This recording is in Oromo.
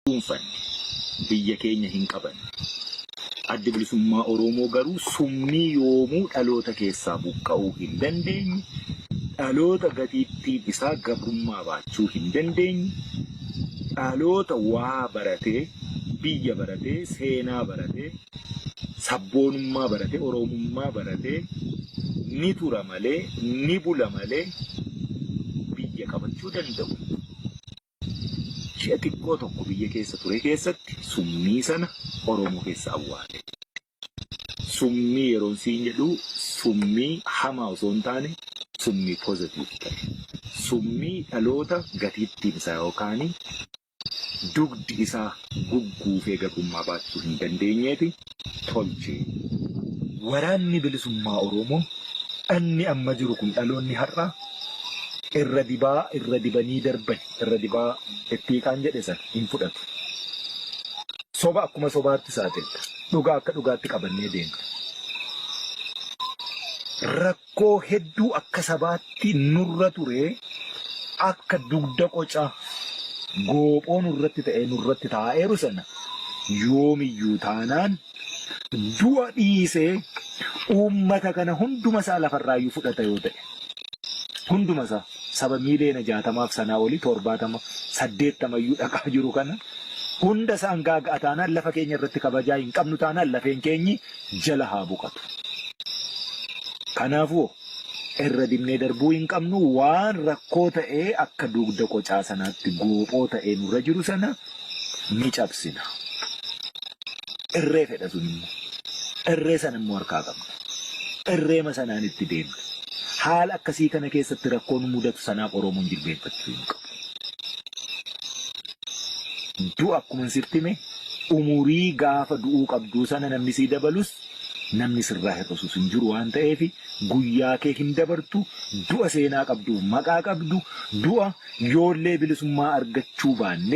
dhuunfanne biyya keenya hin qabanne. Addi Bilisummaa Oromoo garuu summii yoomuu dhaloota keessaa buqqa'uu hin dandeenye, dhaloota gatiittiin isaa gabrummaa baachuu hin dandeenye, dhaloota waa baratee, biyya baratee, seenaa baratee, sabboonummaa baratee, Oromummaa baratee ni tura malee, ni bula malee biyya qabachuu danda'u. Ji'a xiqqoo tokko biyya keessa ture keessatti summii sana Oromoo keessa awwaale. Summii yeroon siin jedhu summii hamaa osoo hin taane summii positive ta'e. Summii dhaloota gatiittiin isaa yookaan dugdi isaa gugguufee gabrummaa baachisuu hin dandeenyeeti. tolche. Waraanni Bilisummaa Oromoo dhanni amma jiru kun dhaloonni har'aa irra dibaa irra dibanii darbani irra dibaa itti hiqaan jedhe sana hin fudhatu. Soba akkuma sobaatti saaxilla. Dhugaa akka dhugaatti qabannee deemna. Rakkoo hedduu akka sabaatti nurra ture akka dugda qoca goophoo nurratti ta'ee nurratti taa'eeru sana yoomiyyuu taanaan du'a dhiisee uummata kana hunduma isaa lafarraayyuu fudhata yoo ta'e hunduma isaa saba miiliyoona jaatamaaf sanaa olii torbaatama saddeettamayyuu dhaqaa jiru kana hunda isaan gaaga'a taanaan lafa keenya irratti kabajaa hin qabnu taanaan lafeen keenyi jala haa boqatu. Kanaafuu irra dibnee darbuu hin qabnu waan rakkoo ta'ee akka dugda qocaa sanaatti goophoo ta'ee nurra jiru sana ni cabsina. Irree fedha sun immoo. Irree sana immoo harkaa qabna. Irreema sanaan itti deemna. Haala akkasii kana keessatti rakkoo nu mudatu sanaaf Oromoon jilbeeffachuu hin qabu. Du'a akkuman sitti hime umurii gaafa du'uu qabduu sana namni sii dabalus namni sirraa hir'isus hin jiru waan ta'eef guyyaa kee hin dabartu du'a seenaa qabduuf maqaa qabdu du'a yoollee bilisummaa argachuu baanne